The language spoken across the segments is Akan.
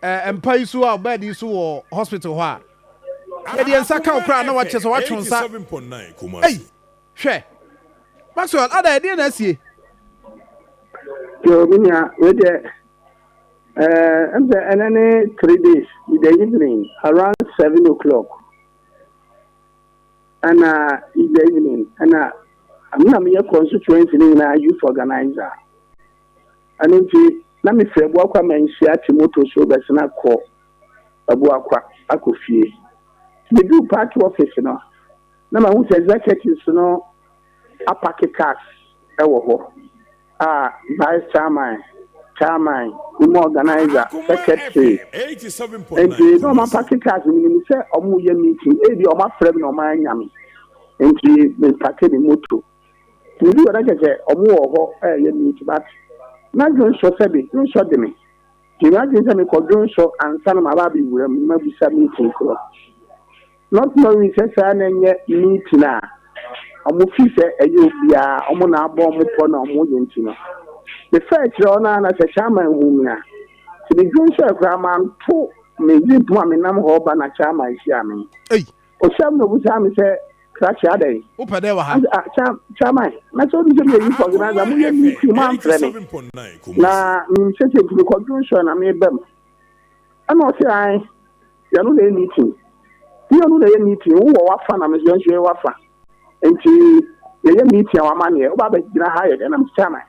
eh, mpa yi so a bɛɛde yi so wɔ hospital hɔ a yɛde yɛn nsa ka wo koraa na wakyɛ sɛ watwe nsa ei hwɛ maxwell ada ɛdeɛ na asie yo menya wedeɛ ɛm sɛ ɛnɛ ne three days in the evening around seven o'clock ɛna in the evening ɛna mena meyɛ constituency no nyinaa youth organizer Ɛno nti, na mefiri Abuakwa Manhyia te moto so bɛsen akɔ Abuakwa akɔ fie. Meduu party office no, na mahu sɛ executives no apake cars wɔ hɔ a vice chairman, chairman, woman organizer, secretary, nti na wɔapake cars. Menim sɛ wɔreyɛ meeting, ebia wɔafrɛ me na wɔannya me, nti mepake me moto. Na ebi wɔ na kyerɛ sɛ wɔn wɔ hɔ ɛyɛ neat but na dwonsɔ sɛbe dwonsɔ de me nti m'adwene sɛ mekɔ dwonsɔ ansa na maba abɛwura mu mabisa meeting korɔ not knowing sɛ saa na ɛnyɛ meeting a wɔn fi sɛ ɛyɛ obiara wɔn na abɔ wɔn pɔ na wɔn yɛ nti no mefa akyerɛ wɔn na na sɛ chairman hu me a sɛ me dwonsɔ ɛkora manto me gyepom a menam hɔ ba na chairman hyia me. Osɛm na obusaa me sɛ krakye adɛn? Wopɛ dɛn wɔ ha? Ase a kya kyaman na sɛ onim sɛ meyɛ youth organizer mo yɛ meeting mo amfrɛ me na menim sɛ sɛ ntumi kɔ dwon sɔɛ na meba mu ɛna ɔsɛ ae yɛno na ɛyɛ meeting ne yɛno na ɛyɛ meeting wo wɔ wafa na mesɛ nso yɛ wafa nti yɛyɛ meeting a wama neɛ woba bɛgyina ha yɛ dɛn na mesɛ kyaman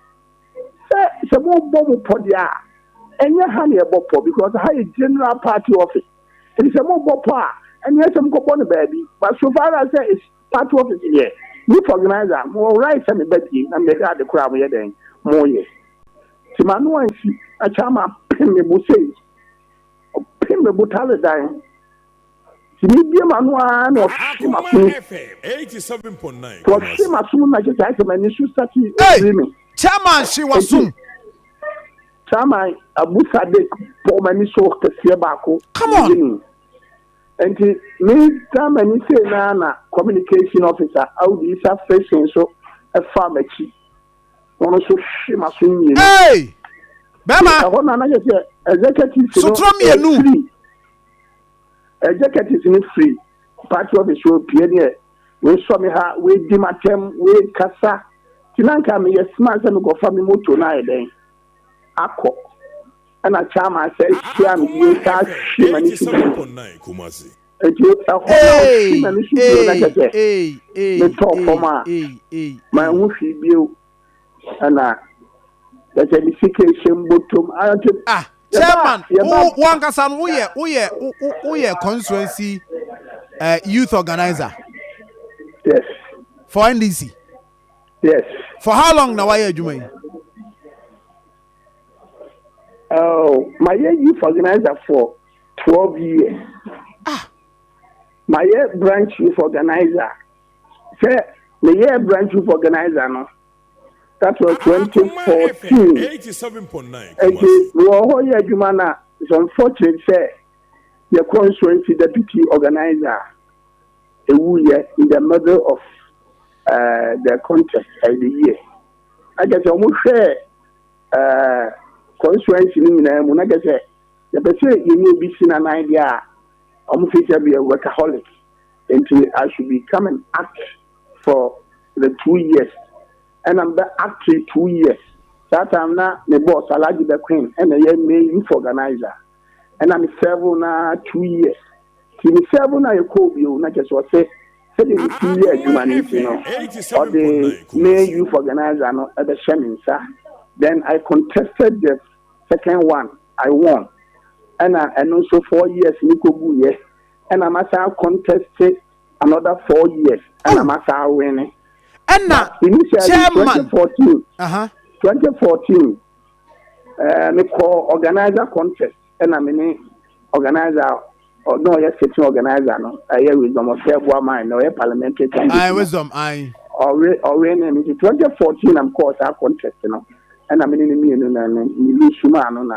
sɛ sɛ mobɔ mo pɔ deɛ a ɛnyɛ ha ne ɛbɔ pɔ because ha yɛ general party office Enti sɛ mobɔ pɔ a, ɛneɛ sɛ mokɔbɔ no baabi. But so far as sɛ it's party office deɛ, youth organiser, mowɔ right sɛ meba bie na mebɛhwɛ ade korɔ a moyɛ dɛn? Moyɛ. Nti m'ano ansi na Charma pem me bo sei. Ɔpem me botare dan. Nti mebue m'ano ara na ɔhwe m'asomu. Nti ɔhwe m'asomu na kyerɛ sɛ ayɛ sɛ m'ani so starte ɔpiri me. Ei! Charma hwe w'asom. Saa ma Abu Sadiq bɔɔ m'ani so kɛseɛ baako Come on! Guinea. Enti me Germany sei no ara na Communication Officer Audu Isa Fritsch nso faa m'akyi na ɔno nso hwe m'aso mmienu. Hey! Bɛrima! Ɛhɔ no a na kyerɛ sɛ executives no Sotorɔ mmienu! firi, executives no firi party office hɔ pue neɛ Woesɔ me ha, woedzi m'atsɛm, woekasa. Ntsi na nka meyɛ smart sɛ mokɔfa me motor no ayɛ dɛn akɔ. Nna Chairman san hyia me bio, ɔsan hwe m'enusu bio. Ntsi hɔ na ɔhwe m'enusu bio na kyerɛ sɛ metɔɔ famu a mannhu hwee bio. ɛna ɛsɛ de sika ehyɛ mbotom ante. ah chairman wo wankasa no woyɛ woyɛ woyɛ constituency uh, youth organizer yes for ndc yes for how long na wayɛ adwuma yi oh mayɛ youth organizer for twelve years ah mayɛ branch youth organizer Sɛ meyɛɛ Branch Youth Organiser no, that was twenty fourteen, nti mewɔ hɔ yɛ adwuma no a, it's unfortunate sɛ yɛ constituency Deputy Organiser wuiɛ in the middle of uh, the contest uh, the year. Na kyerɛ sɛ wɔhwɛɛ uh, constituency no nyinaa mu, na kyerɛ sɛ yɛpɛ sɛ yɛnyɛ obi si nanan deɛ a wɔfiri sɛ beyɛ workaholic. nti I should be come and act for the two years ɛna me bɛ act two years saa time na me boss Alhaji bɛ Queen ɛna ɛyɛ main youth organizer ɛna me serve na two years ti me serve na yɛ kɔɔ bio na kyɛ sɛ ɔsɛ sɛdeɛ me ti yɛ adwuma no nti no ɔde main youth organizer no ɛbɛ hyɛ me nsa then I contested the second one I won ɛna ɛno nso four years ne kɔ gu yɛ Ɛna masan akɔntɛste another four years ɛna oh. masan awene. Ɛna chairman twenty fourteen ɛɛ mekɔ organizer contest ɛna me ne organizer ɔno ɔyɛ sitting organizer no ɛyɛ wisdom ɔsɛ ɛboa man na ɔyɛ parliamentary candidate. ayi wisdom ayi. ɔwe ɔwe ne mi ti twenty fourteen na mekɔɔ saa contest no ɛna me ne ne mmienu na ne ne bi suma ano na.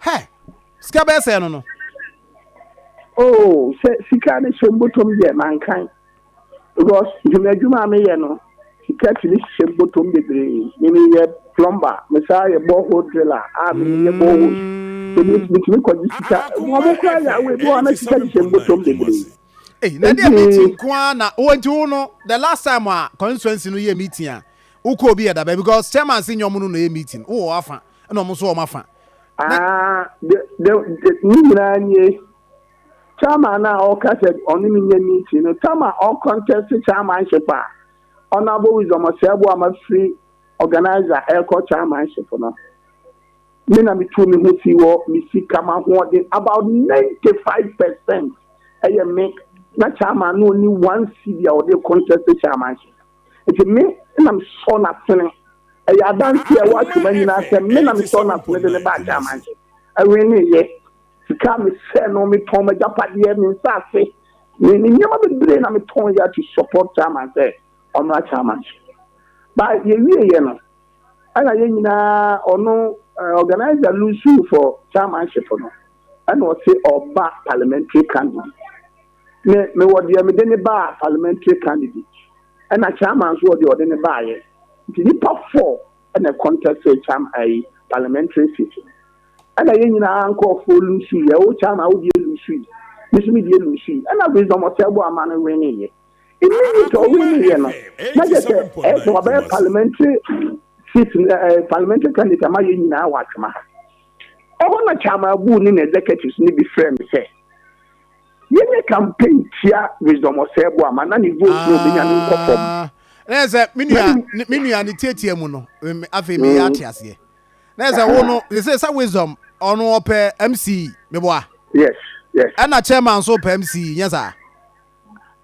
Hɛ! Sika bɛyɛ sɛɛ no no. Oo, sɛ sika no hyɛ mbotom deɛ, mankan. Because dwuma adwuma a meyɛ no, sika tumi hyɛ mbotom bebree. Me meyɛ plumber, mesan yɛ borehole driller a meyɛ boreholes. So me metumi kɔgye sika? Wɔn koraa yɛ awo, ebi wɔ hɔ a na sika hyehyɛ mbotom bebree. Ei, na ɛdeɛ meeting nko ara na, oh nti wo no, the last time a constituency no yɛɛ meeting a, wokɔɔ bi yɛ da bɛn? Because chairman se nyɛ wɔn no na ɛyɛ meeting, wowɔ w'afa. ɛna wɔn nso wɔn afa. Ah, ne nyinaa nie chairman no a ɔka sɛ ɔne me nyɛ meeting no tam a ɔkɔntɛse chairmanship a honorable wisdom ɔsɛɛbo a mafiri organizer ɛrekɔ chairmanship no me na metu me ho si wɔ me sika ma hoɔden about 95 percent ɛyɛ me na chairman no ɔni one cedi a ɔde kɔntɛse chairmanship Enti me na mesɔɔ no asene. Ɛyɛ adanseɛ a ɛwɔ Atwam anyinaa sɛ me na mesɔɔ no asene de no baa German so. Ɛnweneeɛ. Sika a mesɛɛ no, metɔn m'agyapadeɛ, me nsase, ne ne nneɛma bebree na metɔeɛ to support German sɛ ɔmmra German so. But yɛwieeɛ no, ɛna yɛn nyinaa, ɔno, eh, organiser Lusu for Germanship no, ɛna ɔse ɔba parliamentary candidate. me mewɔ deɛ mede ne baa parliamentary candidate ɛna chairman nso wɔ deɛ ɔde ne baayɛ nti nipa four ɛna contest chairman ayi parliamentary seat no ɛna yɛn nyinaa nkorɔfoɔ lusu yɛ o chairman wo deɛ lusu yi me so me deɛ lusu yi ɛna wisdom ɔsɛbo ama no wene yɛ immediate ɔwene yɛ no na kyɛ sɛ ɛyɛ sɛ wabɛyɛ parliamentary seat ɛɛ parliamentary candidate ama yɛn nyinaa wɔ atwema ha ɛhɔ na chairman buu ne na executives no bi frɛ me sɛ. yɛnyɛ campaign tia wisdom ɔsɛɛbo ama na ne vote no obenya no nkɔ fam. Ah, na yɛ sɛ me nua ne- me nua ne tiatia mu no me- me- afei meyɛ ate aseɛ na yɛ sɛ wo no yɛ sɛ sɛ wisdom ɔno ɔpɛ mce meboa Yes, yes. ɛna chairman nso pɛ mce nyɛ saa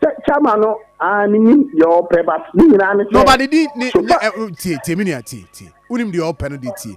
Sɛ chairman no ah menim deɛ ɔpɛ but ne nyinaa ne na sɛ ɔba ne din ne so ne far ɛ- wo- tie tie me nua tie tie wonim deɛ ɔpɛ no deɛ tie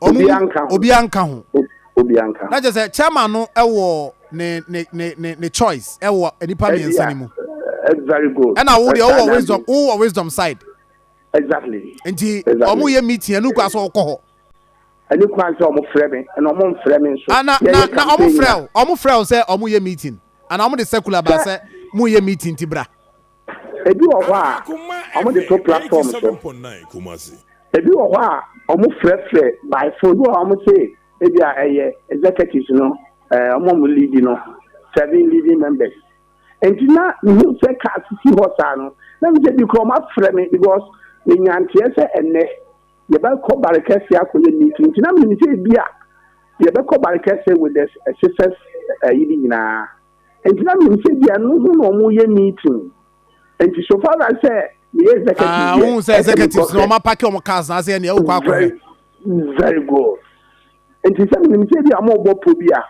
obi anka ho obi anka ho obi anka ho na kyerɛ sɛ chairman no ɛwɔ ne ne ne ne ne choice ɛwɔ nipa mmiɛnsa ne mu very good ɛna wo deɛ wowɔ wisdom wowɔ wisdom side exactly nti ɔmo yɛ meeting ɛnu kɔ asɔ ɔkɔ hɔ ɛnu kɔ asɔ ɔmo frɛ mi ɛna ɔmo nfrɛ mi nso ana na na ɔmo frɛ o ɔmo frɛ o sɛ ɔmo yɛ meeting ana ɔmo de circular ba sɛ mo yɛ meeting ti bra. Ebi wɔ hɔ a, wɔde to platform so. Ebi wɔ hɔ a, wɔfrɛfrɛ by phone. Ebi wɔ hɔ a, wɔse ebi a ɛyɛ executives no, ɛɛ wɔn a wɔn lead no, serving leading members. Nti na mihu sɛ car sisi hɔ saa no, na mi sɛ bi kura wɔn afrɛ me because me nya nteɛ sɛ ɛnɛ yɛbɛkɔ Barikɛse akɔyɛ meeting. Nti na mi nim sɛ ebi a yɛbɛkɔ Barikɛse with the SISES ɛyi ne nyinaa. Enti na minim sɛ ebia ɛno ho na wɔreyɛ meeting. Enti so far as sɛ meyɛ executive deɛ, ɛsɛ mekɔ hwɛ. Ah, wohu sɛ executives no, wɔapake wɔn cars na asɛ ɛneɛ wokɔ akɔhwɛ. Very, very good. Enti sɛ menim sɛ ebia wɔrebɔ pɔ bi a,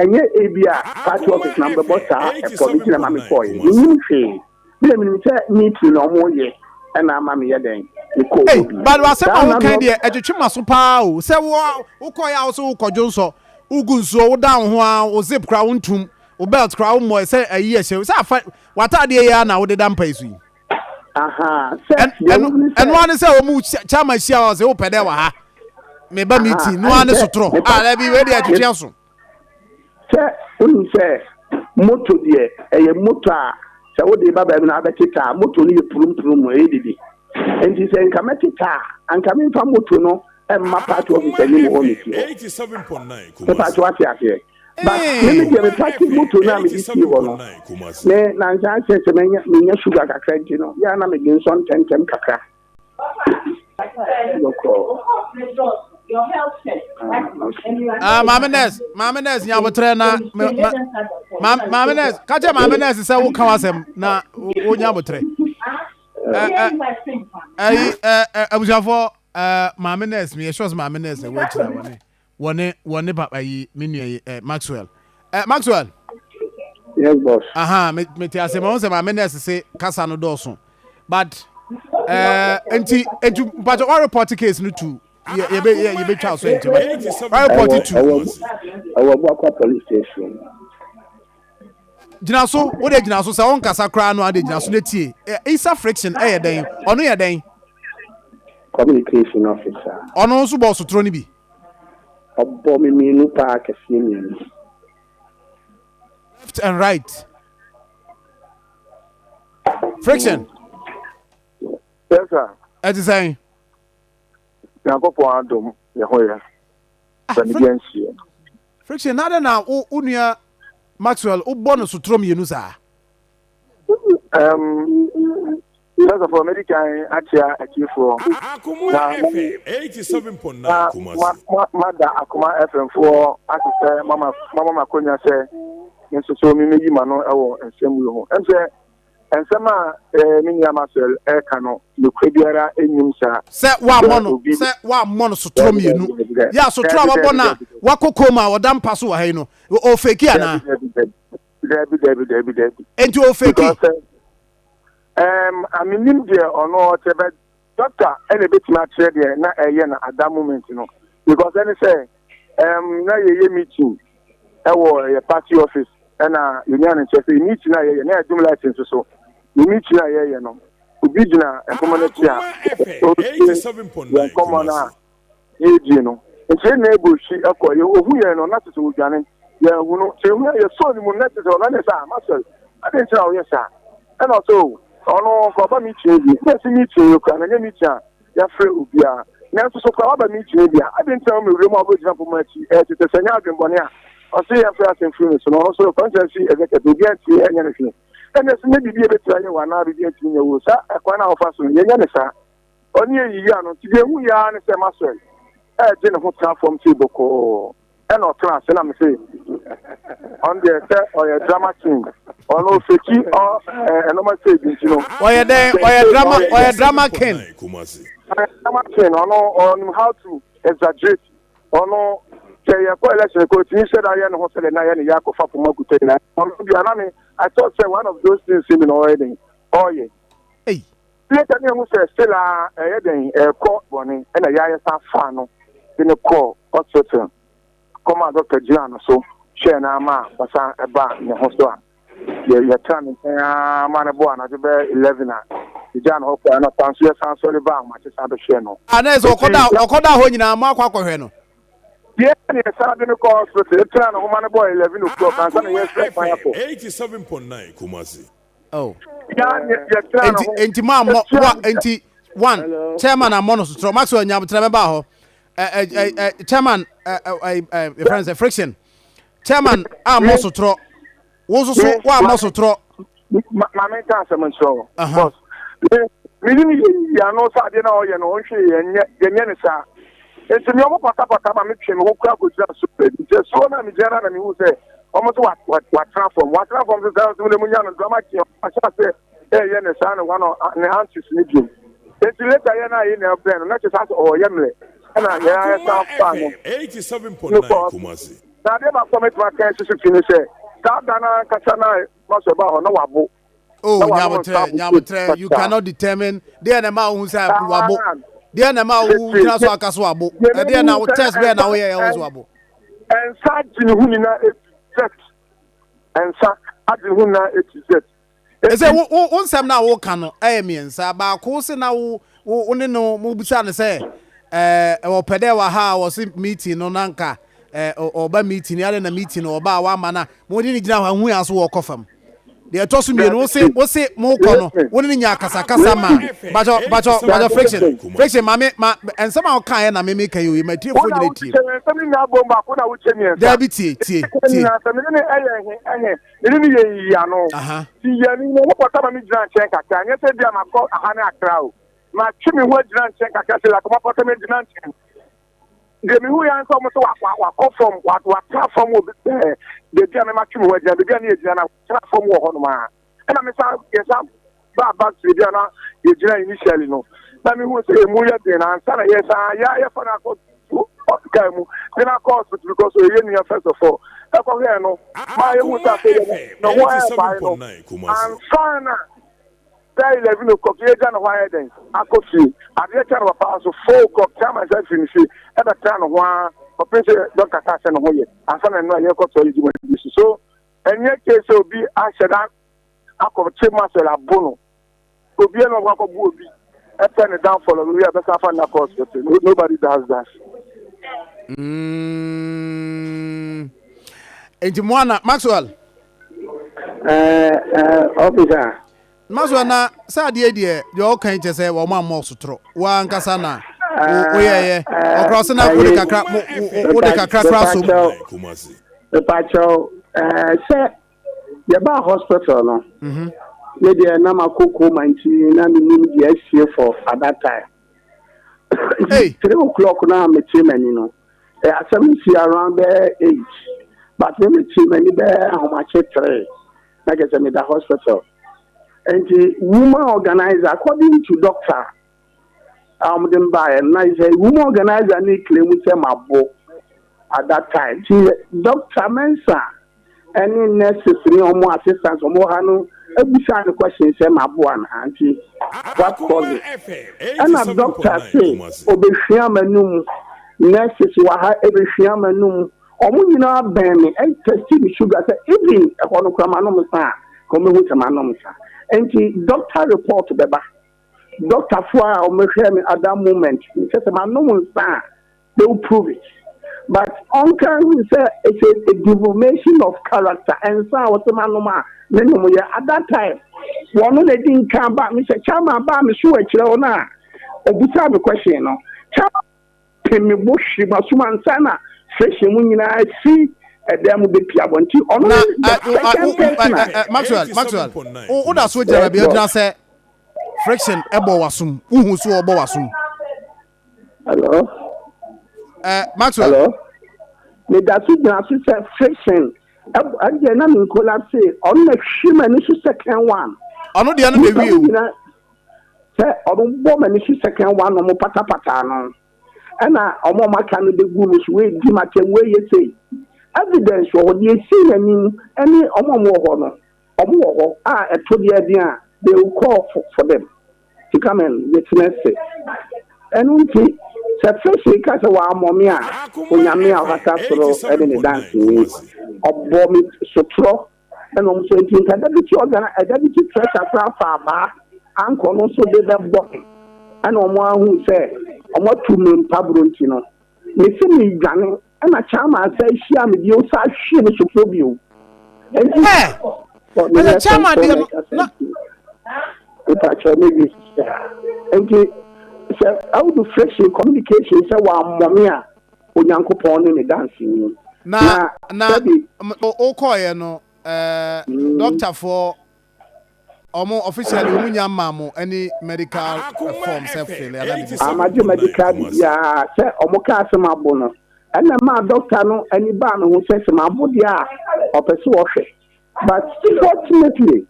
ɛnyɛ ebia party office na mobɛbɔ saa pɔ no nti na ɛma mekɔeɛ. Mennim hwee. Me na menim sɛ me tiri na ɔmo yɛ ɛna ama meyɛ dɛn mekɔ Ei, obi. but w'asɛm a Saa na wokan me- deɛ ɛtwetwe m'aso paa o sɛ wo wokɔɛ a wo so wokɔ dwonsɔ wogu nsuo woda wo ho a wo zip koraa wontum wo belt koraa wommɔɛ sɛ ayi ɛhyɛ sɛ afa w'ataadeɛ yi ara na wode da mpa yi so yi Ahaa, sɛ Ɛn- deɛ ɛno wohu ne sɛ- ɛno ara ne sɛ wɔn mu hyɛ- kyama hyia wɔ sɛ wopɛ dɛ wɔ ha meba Aha, meeting no ara ne ɛne sɛ sotorɔ meba- a daabi wei deɛ ɛtwetwe aso Sɛ wonim sɛ moto deɛ ɛyɛ moto a sɛ wode reba baabi na abɛteta a, moto no yɛ purumpurump, ɛyɛ dede. Enti sɛ nka mɛteta a, anka memfa moto no mma party office anim hɔ me fie hɔ. Mepatwo wate aseɛ? But me me deɛ me parke moto no a mede sie hɔ no, me nansa akyɛ sɛ menya sugar kakra nti no, yɛ a na mede nsɔ ntɛmntɛm kakra. Ah, maame nurse, maame nurse nya abotrɛ na maame nurse, ka kyɛ maame nurse sɛ wo kan asɛm na wo nya abotrɛ. Ɛyi, abusuafoɔ, maame nurse, mi yɛ sure sɛ maame nurse ɛwɔ akyire awɔ ne. wɔ ne wɔ ne papa yi me nua yi eh, maxwell eh, maxwell yes boss aha me me te ase ma ho sɛ maame nurse se kasa no dɔɔso but eh, nti nti mpatsɔ wa report case no to yɛ yɛbɛ yɛ yɛbɛtwa so nti wa report to ɛwɔ ɛwɔ buakwa police station gyina so wo de gyina so sɛ ɔnkasa koraa no ade gyina so na tie isa friction ɛyɛ dɛn ɔno yɛ dɛn communication officer ɔno nso bɔ sotoro no bi ɔbɔ me mmienu paa kɛseɛ mmienu left and right friction yes sir ɛte sɛn nyankopɔn adom yɛ ho yɛ sɛ ne bi anhyiɛ Friction, na adɛn na wo wo nua Maxwell wobɔ no sotorɔ mmienu saa? Um, first of all, medi kan akyea atiefoɔ na mumi na mada akoma fmfoɔ ase sɛ mama makonya sɛ nso so memɛyi ma no wɔ nsɛm wei ho ɛm sɛ Nsɛm a me nua Maxwell reka no, nokorɛ biara nnim saa. Sɛ woammɔ no, sɛ woammɔ no sotorɔ mmienu, yɛ a sotorɔ a wabɔ no a wakɔ koma a ɔda mpa so wɔ ha yi no, ɔrefeki anaa? Dabi, dabi, dabi, dabi. Enti ɔrefeki? Ɛɛm, amennim deɛ ɔno ɔkyɛ bɛ. Doctor ɛna ebetumi akyerɛ deɛ na ɛyɛ na at that moment no because ɛne sɛ ɛm na yɛyɛ meeting ɛwɔ yɛ party office ɛna yɛnya no nkyɛ sɛ meeting a yɛyɛ na yɛadum light nso so ne meeting a yɛyɛ no obi gyina nkɔmmɔ no akyi a ɔretie yɛn nkɔmmɔ no a Yɛɛdie no nti na Abel hwi kɔɛ yɛ ohu yɛn no na kyesɛ odwane yɛn hu no sɛ ehuna yɛ sɔɔ ne mu no na kyesɛ ɔnane saa Maxwell adɛn nti na woyɛ saa ɛna ɔsɛ oo ɔno nka ɔba meeting yi bi na ɛsi meeting yi kora na nyɛ meeting a yafrɛ obia nanso so kora waba meeting yi bi a adɛn nti na woma ewura mu a wobɛgyina poma akyi ɛɛ kyesɛ sɛ nyɛ adwenbɔne a ɔsɛ yɛmfrɛ asɛm firi ne so na ɔno nso kwankyerɛ no si ɛsɛ kɛtɛ obia ntimi ɛnyɛ no hwee ɛna ɛsɛ nyɛ biribi a ɛbɛtumi ayɛ wo anaa biribi ntimi nyɛ wo saa ɛkwan a wofa so no yɛnyɛ ne saa. ɔne yɛn yiyia no nti deɛ ɛhu yɛ ara ne sɛ Maxwell ɛregye ne ho tena fam sei bɔkɔɔ ɛna ɔtena ase na me se ɔno deɛ sɛ ɔyɛ drama king ɔno ɔfɛkyi ɛnoma sɛ bi nti no ɔyɛ dɛn ɔyɛ drama ɔyɛ drama king drama king ɔno ɔno how to exaggerate ɔno sɛ yɛkɔ election kɔ ɔtumi sɛ da yɛ ne ho sɛ dɛ na yɛ ne yɛ akɔfa poma kuta nyina ɔno bia na me I thought sɛ one of those things mi na ɔyɛ den ɔyɛ Bio sɛ ne ahu sɛ still aa ɛɛyɛ dɛn ɛɛkɔ bɔne ɛna yaayɛ san faa no de no kɔɔ hospital kɔmaa doctor gyinaa no so hwɛɛ no aa ma ɔsan baa ne ho so a yɛ yɛtraa ne nkyɛn aa ma no bɔɔ anadwo bɛyɛ eleven a yɛgyaa no hɔ kɔɛ anɔpa nso yɛsan sɔre baa ahomakye san bɛhwɛɛ no Aa na ɛsɛ ɔkɔda enti ɔkɔdaa hɔ nyinaa mo akɔ akɔhwɛ no? Bio sɛ ne yɛsan de no kɔɔ hospital yɛtraa no ho ma no bɔɔ eleven o'clock ansa na yɛɛhwɛ kwan akɔ. 87.9 Kumasi oh. enti enti maa mɔ wa enti one chairman amɔ no sotorɔ maxwell nyabotra bɛba hɔ ɛɛ ɛɛ ɛɛ chairman ɛɛ ɛɛ ɛɛ efɛn sɛ friction chairman amɔ sotorɔ wɔn nso so wɔn amɔ sotorɔ. maame nka asɛm nkyerɛ o bɔs mi ni mi yɛ yɛ ano sɛ adeɛ na ɔyɛ no ɔnhwɛ yɛn nyɛ yɛn nyɛ ne saa. Enti me wɔn patapataa ma me twe me ho kura kɔgyina asuo baabi. Nti asuo no a megyina no ara na mehu sɛ wɔn nso wɔatena fam. Wɔatena fam nso saa nso na munya no drama king ahyɛ aseɛ ɛreyɛ ne saa ne hɔ no ne antics no bio. Enti later yɛ no a yɛn nyinaa brɛ no na kyerɛ sɛ asɛ ɔreyɛ mmerɛ ɛna yɛn ara san faa no no kɔɔ so. Na adeɛ baako a mɛtumi aka nso so fi ne sɛ saa da no ankasa no a Maso baa hɔ no na wabo. oh nyabotrɛ nyabotrɛ you cannot determine deɛ na ɛma wohu sɛ wabo deɛ na ɛma wogyina so aka so wabo ɛdeɛ na wo test bɛɛ na woyɛ ɛho so wabo ɛnsa gye ne ho nyinaa ɛti ɛnsa agye ne ho nyinaa ɛti zet ɛsɛ wo nsɛm no a woka no ɛyɛ mmiɛnsa baako se na wo wo ne no mobisa no sɛ ɔpɛ dɛ wɔ ha a wɔse meeting no nanka ɔba meeting yɛade na meeting no ɔba a wama no a mode ne gyina hɔ ahu yɛ so wɔkɔ fam deɛ ɛtɔ so mmienu wose wose mo kɔ no wo ne nya akasakasa ma bajɔ bajɔ bajɔ friction friction maame ma nsɛm a ɔka yɛ na me meka yi o yɛ ma tie fo nyina tie daabi tie tie tie aha matwe me ho agyina nkyɛn kakra sɛ lakɔmapɔtɔ me agyina nkyɛn Deɛ mehu yɛ ara ne sɛ wɔn sɛ wa wa wakɔ fam wa watena fam wɔ bi ɛɛ beebi a mɛma twem hɔ agyina beebi a ne yɛgyina na tena fam wɔ hɔ nom a ɛna me san yɛ san baa back to beebi a na yɛgyina initially no na mehu sɛ emu yɛ den na ansa na yɛ san yɛ ayɛ fa no akɔ hospital mu de no akɔ hospital because ɛyɛ nua first of all ɛkɔhwɛɛ no maa yɛhu sɛ afei yɛ no ho ɛɛbae no ansa na Sɛ eleven o'clock yɛ gya ne hɔ ayɛ dɛn akɔ fie adeɛ kyɛ no papa nso four o'clock tia ma nsa firi ne fie ɛbɛ tena ne ho a ɔpɛ sɛ dɔn kasa sɛ ne ho yɛ ansa na nnora yɛkɔ tɔ yɛgyi wɔn bi so so ɛnyɛ kye sɛ obi ahyɛ da akɔ kye mu asɛ abo no obi ɛna ɔkɔ akɔ bu obi ɛpɛ ne dan fɔlɔ no yɛ ɛbɛsa afa ne nakɔ hospital nobody does that. Mm. Nti mo ana Maxwell. ɔfis a. ma so na sɛ adeɛ deɛ deɛ ɔka yi kyɛ sɛ wɔn a mmɔ so toro wɔn ankasa na woyɛyɛ ɔkora ɔsɛ na wode kakra wode kakra kora so mu. mepakyɛw sɛ yɛbaa hospital no ne deɛ na makɔ koma nti na menim deɛ asie for at that time Hey. Three o'clock na mi ti mɛ ni no. Ẹ eh, asẹm ni si around bẹ eight. But mi mi ti mẹ ni bẹ ahomakye three. Na kẹ sẹ mi da hospital. Nti woman organizer according to doctor a ọmọ de mba ẹ na sẹ woman organizer ni claim sẹ ma bo at that time. Ti doctor Mensah. ɛne nurses ne wɔn assistants wɔn wɔ ha no bisaa no question sɛ maboa no aunty what cause it ɛna doctor se obehwia m'anum nurses wɔ ha ebehwia m'anum wɔn nyinaa bɛn me ɛn testi me sugar sɛ even ɛhɔ no kora m'anom sa a wɔn ehu sɛ m'anom sa nti doctor report bɛba doctor fo a wɔn hwɛ me at that moment kyɛ sɛ m'anom nsa a. they will prove it but ɔnka nhunu sɛ it's a a deformation of character nsa a ɔsɛ manom a menom yɛ at that time wɔno na ɛdi nka ba mesɛ chairman baa me so akyirɛ hɔ no a ɔbusaa me question no chairman pe me bo hwe masom ansa na fresh mu nyinaa si ɛdan mu bɛpi abɔnten ɔno na ne the uh, second uh, person uh, uh, uh, Maxwell Maxwell woda so gyina yes baabi a boss ɔgyina sɛ friction ɛbɔ wasom wohu so ɔbɔ wasom Hello. Ẹ Maxwell. Hello. Me da so gyina so sɛ friction. Ɛdeɛ na me nkola se ɔno na hwe m'ani so second one. Ɔno deɛ no na ewie o. Nyina sɛ ɔno bɔ m'ani so second one na ɔmo patapata ano. Ɛna ɔmo ɔmo aka no begu no so wei di m'atɛm wei yɛ sei. Evidence wɔ hɔ deɛ esi n'anim ɛne ɔmo ɔmo wɔ hɔ no. Ɔmo wɔ hɔ a ɛtɔ bia ɛden a they will call for them to come and witness it. Ɛno nti sɛ fish ka sɛ wammɔ me a, Onyame a ɔkata soro ne ne danseni, ɔbɔ me sotorɔ na ɔmo so nti nka Deputy Organ, Deputy Treasurer koraa fa abaa ankɔ no so de bɛbɔ me ɛna ɔmo ahu sɛ ɔmo atu me mpaburo nti no, mese medwane. Ɛna Chalmers san hyiaa me bio san hwee me sofo bio. Ɛnti Ɛ! Ɛyɛ Chalmers deɛ no na. Mepakyɛw me wie sista. Ɛnti sɛ Audu Friction Communication sɛ wammɔ me a, Onyankopɔn ne me danseni. Na, na, sɛbi. Wokɔɔeɛ no, ɛɛ, dɔktafoɔ Ɔmo officially ɔmo nya mmaa mo any medical form sɛ fele anaa biribi saa. Magye medical biribiara sɛ ɔmo kaa sɛ mabo no ɛna ɛmaa doctor no ani baa me ho sɛ sɛ mabo deɛ a ɔpɛ sɛ ɔhwɛ but fortunately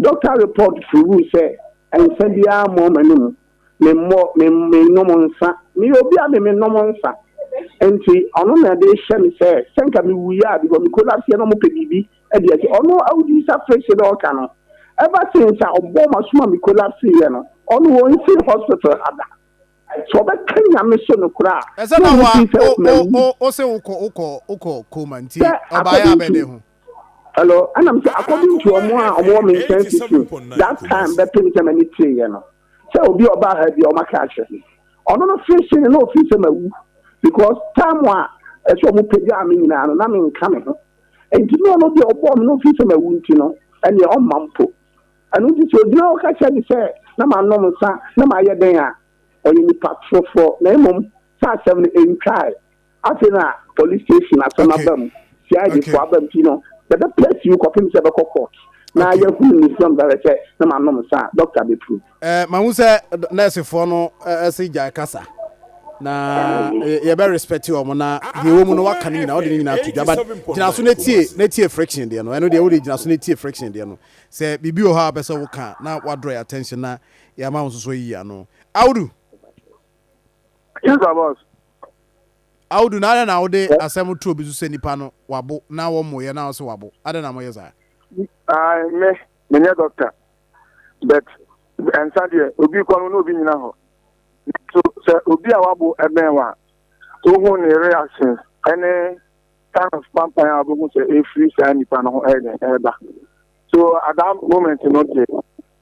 doctor report proved sɛ nsa biara mmɔɔ m'anum memmɔ, mennom nsa. Meyɛ obi a me mennom nsa. Nti ɔno na ɛde rehyɛ me sɛ, sɛ nka mewuiɛ a, because me kuro no aseɛ no wɔpɛ biribi de asi. Ɔno awudi sa firihyɛ na ɔreka no. Ever since a ɔbɔɔ m'asom a me collapseeɛ no, ɔno ɔnsi hospital ha da. Sɛ ɔbɛka Nyame so no koraa a, Ɛsɛ na na ɔhu sɛ wo, mawu. wo, wo, wo se wokɔ, wokɔ, wokɔ coma nti Sɛ ɔbaeɛ according to, abɛdɛ ho. hello, ɛna me sɛ according to wɔn a wɔwɔ me nkyɛn tete, that time bɛpem sɛ m'ani tereeɛ no, sɛ obi a ɔbaa ha bi a wɔaka akyerɛ me. Ɔno no firi hyɛn na ɔfiri sɛ mawu because time a ɛsɛ wɔn pagyaa me nyinaa no na menka me ho. Nti na ɔno deɛ ɔbɔɔ me no ɔfiri sɛ mawu nti no ɛneɛ ɔmma mpo. Ɛno nti sɛ ogyina hɔ ka kyerɛ me sɛ na manom nsa na mayɛ dɛn a ɔyɛ nipa torofoɔ na mmom saa asɛm no ɛntwae. Afei na police station asɛm aba mu, CID fo aba mu nti no yɛbɛ press you kɔpem sɛ ɛbɛkɔ court na yɛahunu ne sum bɛhwɛ sɛ na manom nsa a doctor bɛ prove. Eh, mahu sɛ nurse foɔ no se gyae kasa na yɛbɛ respect wɔn na deɛ ɛwɔ mu no waka no nyinaa wode no nyinaa ato dwa but gyina so na tie na tie friction deɛ no ɛno deɛ wode gyina so na tie friction deɛ no sɛ biribi wɔ hɔ a wopɛ sɛ woka a na woadraw yɛ attention na yɛama wo nso so ayiyi ano Audu. Yes, my boss. Audu na adɛn na wode asɛm too bi so sɛ nipa no wabo na wɔmmoyɛ na ɔsɛ wabo adɛn na moyɛ saa Ae, me, menyɛ doctor, but nsa deɛ obi kɔ no na obi nyina hɔ. So sɛ obi a wabo ɛbɛn wa, wohu ne reaction ɛne kind of pampan a wobɛhu sɛ ɛfiri saa nipa no ho ɛyɛ dɛn ɛreba. So at that moment no deɛ,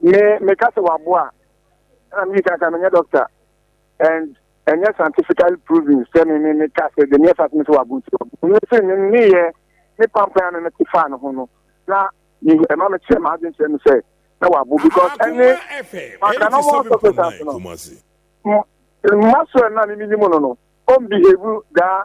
Me meka sɛ waboa ɛna me ka sɛ menyɛ doctor and ɛnyɛ scientifically proven sɛ me me meka sɛ de neɛ fat me sɛ wabo nti wabo me sɛ me meyɛ me pampan a me mete faa ne ho no na me ɛma me kyerɛ ma adwen kyerɛ me sɛ na wabo because ɛne maka no mo sɔfo sase no mma so ɛna me menim no no ɔmbehave daa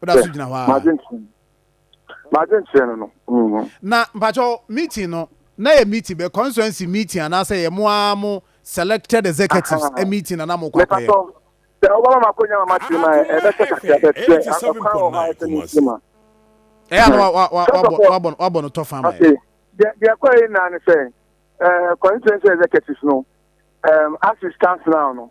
woda so gyina hɔ a na mpakyɛw meeting no na yɛ meeting bɛ constituency meeting anaasɛ yɛ mo ara mo selected executives ah, ah, ah. meeting na na mo kɔ akɔyɛ sɛ ɔbɛma ma akɔnya mama kyerɛ ma ɛbɛsɛ kakra bɛkyerɛ akɔkwan wɔ hɔ ayɛ sɛ ne nsi ma ɛyɛ no wabɔ no tɔ fa ma deɛ kɔ yi naa ne sɛ constituency executives no um, as it stands now no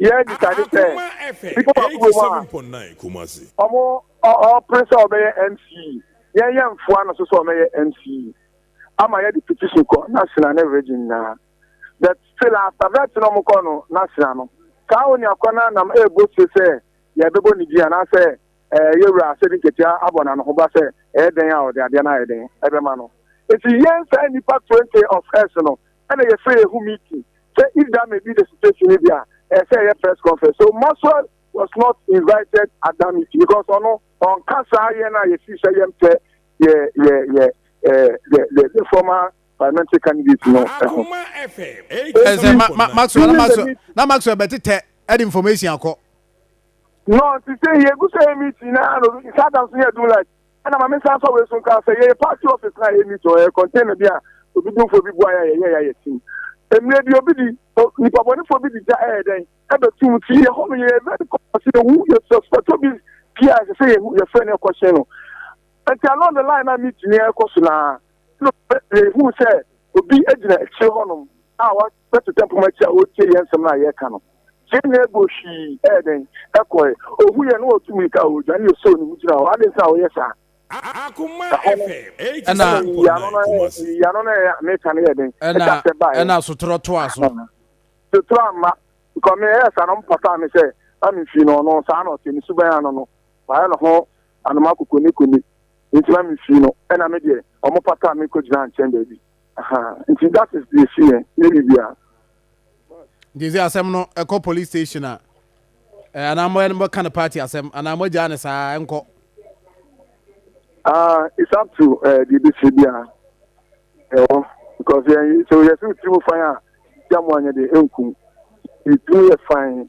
yɛ abisa ne sɛ, nnipa wɔ kurom a wɔn ɔpere sɛ wɔbɛyɛ MC yɛn yɛ mfoa ano so sɛ wɔbɛyɛ MC ama yɛ de petition kɔ national ne region nyinaa but still after vet na wɔn kɔ no national no saa wɔn akɔ na nam ɛɛbɔ se sɛ yɛbɛbɔ ne din anaasɛ ɛɛ yɛwura asɛ de nketea abɔ na no ho ba sɛ ɛyɛ dɛn a ɔde adeɛ no ayɛ dɛn ɛbɛma no nti yɛn saa nipa twenty of us no ɛna yɛfrɛ yɛ ho meeting sɛ if that may be the situation no bi a ɛyɛ sɛ ɛyɛ press conference so maxwell was not invited at that meeting because ɔno ɔnka saa yɛn a yɛsi sɛ yɛmpɛ yɛ yɛ yɛ eh, the the the former parliamentary candidate no ɛho ɛsɛ ma ma maxwell na maxwell na maxwell bɛtetɛ ɛde information akɔ. no nti sɛ yɛgu sɛ yɛ meeting na ano nsa adam so yɛ do like Ɛna ma mensan fa wei so nka sɛ yɛyɛ party office na yɛ meet ɔyɛ container bi a odudunfoɔ bi bua yɛ a yɛyɛ yɛ ayɛ tim. Mmerɛ bi obi di nipa bɔnefoɔ bi di gya ɛyɛ dɛn ɛbɛ tum ti yɛ hɔ no yɛyɛ very conscious yɛ hu yɛ suspect obi pii a ɛsɛ sɛ yɛ hu yɛ fɛ no ɛkɔ hyɛn no nti along the line na meet ni ɛkɔ so naa yɛ hu sɛ obi agyina akyire hɔ nom a wa bɛtetɛ poma akyi a ɔretie yɛn nsɛm no a yɛreka no. Yɛn nyinaa bɔ hwii ɛyɛ dɛn ɛkɔe. Ɔhu yɛn na ɔtu mmirika a ɔredwane na ɔsɔɔ ne mu gyina hɔ. Adɛn nti na ɔyɛ saa? Ɛhɔ no, ɛnna nyiyiano no ɛyɛ, nyiyiano no ɛyɛ a meka no yɛ dɛn? Ɛka sɛ baeɛ. Ɛnna sotorɔ toaa so. Sotorɔ amma, because me ɛyɛɛ saa na wɔpataa me sɛ na memfii no, ɔno saa na ɔte, ne suban ano no, mayɛ ne ho anoma kokonekone, enti na memfii no, ɛnna me deɛ, wɔpataa me kɔgyinaa nkyɛn baabi. nti that is the issue yɛ ne bibia nti sɛ asɛm no ɛkɔ police station a eh, anaa mɔka no party asɛm anaa moagyaa ne saa ɛnkɔ ah, it's up to eh, deɛ ɛbɛsi biara ɛwɔ because eh, sɛ yɛsɛ wotiri mu fan a gya mo anyɛ deɛ ɛnkum ɛtumi yɛ fan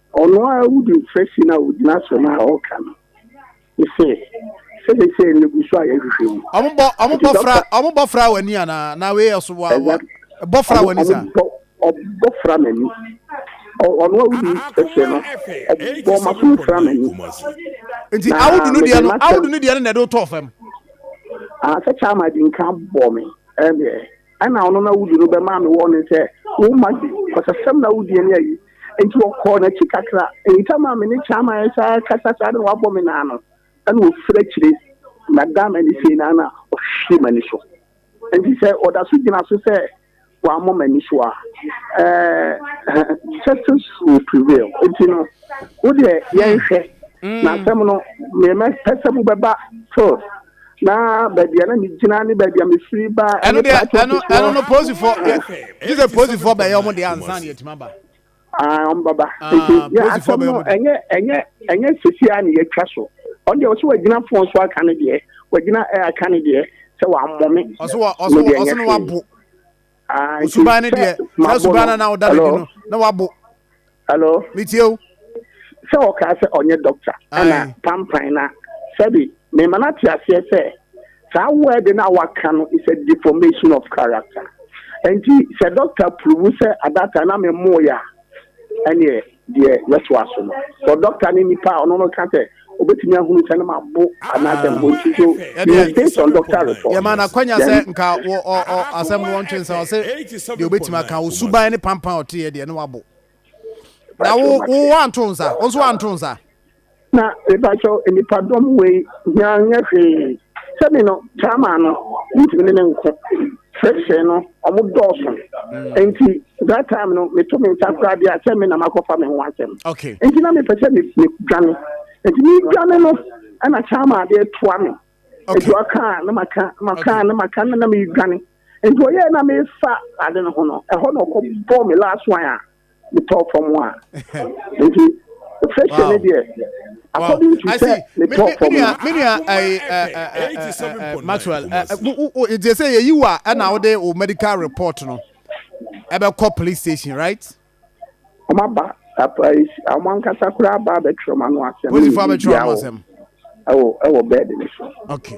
Ɔno ara wudi mfirasi no a ogyina asɛm a ɔreka no sɛ sɛnɛsɛ no gu so a yɛhwehwɛ mu. Ɔmo bɔ ɔmo bɔ fra ɔmo bɔ fra w'ani anaa na wei yɛ so wa wa bɔ fra w'ani sa. Ɔbɔ fra m'ani ɔno a wodi ɛsɛ no ɔbɔ ma so fra m'ani. Nti awudu no deɛ no awudu no deɛ no na ɛde wotɔɔ fam. Asɛ kyaama di nka bɔ me ɛdeɛ. Ɛna ɔno na wudi no bɛmaa me wɔne sɛ, Wo mma di ɔsasɛm na wodi ani ayi. Enti ɔkɔɔ n'akyi kakra. Ntɛm a me ne Chama resan akasa saa na wabɔ me nan no, ɛna ofiri akyire na daa m'ani sei na na ɔhwɛ m'ani so. Enti sɛ ɔda so gyina so sɛ wammɔ m'ani so a, ɛɛ, justice will prevail. Enti no, wo deɛ yɛnhwɛ. Na asɛm no, mepɛ sɛ mobɛba Phil. na baabi a na mi gyina ne baabi a mi firi ba ɛne paaki ɔfisi hɔ ɛno no polisifo gye sɛ polisifo bɛyɛ ɔmo deɛ ansa na yɛtumi aba aa ɔmo baba ah, nti yɛ asɛm no ɛnyɛ ɛnyɛ ɛnyɛ sisi a na yɛtwa so ɔno deɛ ɔsɛ wagyina fon so aka ne deɛ wagyina ɛɛ aka ne deɛ sɛ wamɔ me ɔsɛ ɔsɛ ɔsɛ no wabo. osuban no deɛ saa osuban no na ɔda n'adi no na wabo hello metie o sɛ ɔkaa sɛ ɔnyɛ dɔkta ɛna pampan na sɛbi mema no ate aseɛ sɛ saa word no a waka no is a deformation of character nti sɛ dɔkta purubu sɛ adata na memmoeɛ a ɛneɛ Deɛ yɛtoa so no, sɛ dɔkta ne nipa a ɔno no ka sɛ obetumi ahunu sɛ ne ma bo anaasɛ ne ho nti so, he is based on doctor report. Yɛmaa no akwanya sɛ nka wɔ ɔ ɔ asɛm no wɔntwe nsa, ɔse deɛ obetumi aka, wo suban ne pampan a ɔteeɛ deɛ ne wabo. Na wo wo woanto nsa, wo nso woanto nsa. Na mepakyɛw nnipadɔm wei hia nyɛ hwee. Sɛ me no, Tama no, ntumi ne ne nko. Sɛsɛ no, ɔmo dɔɔso. Mm. Enti, that time no, meto me nsa koraa deɛ a, sɛ me na makɔfa me ho asɛm. Okay. Enti na mepɛ sɛ me me dwane. Enti me dwane no, ɛna Tama adeɛ toa me. Okay. Enti ɔka a, na maka, maka, Okay. na maka, na na me dwane. Enti ɔyɛ na mefa ade no ho no, ɛhɔ na ɔkɔ bɔɔ me last one a, metɔɔ fam a nti fɛhyɛ ne deɛ according to sɛ metɔɔ fam no. menua maxwell nti sɛ yɛyi wo a ɛna wode wo medical report no ɛbɛkɔ police station right ɔma ba ɔma nkasa koraa ba bɛtwerɛ ma no asɛm polisifoɔ bɛtwerɛ ma no asɛm ɛwɔ bɛɛde ne so okay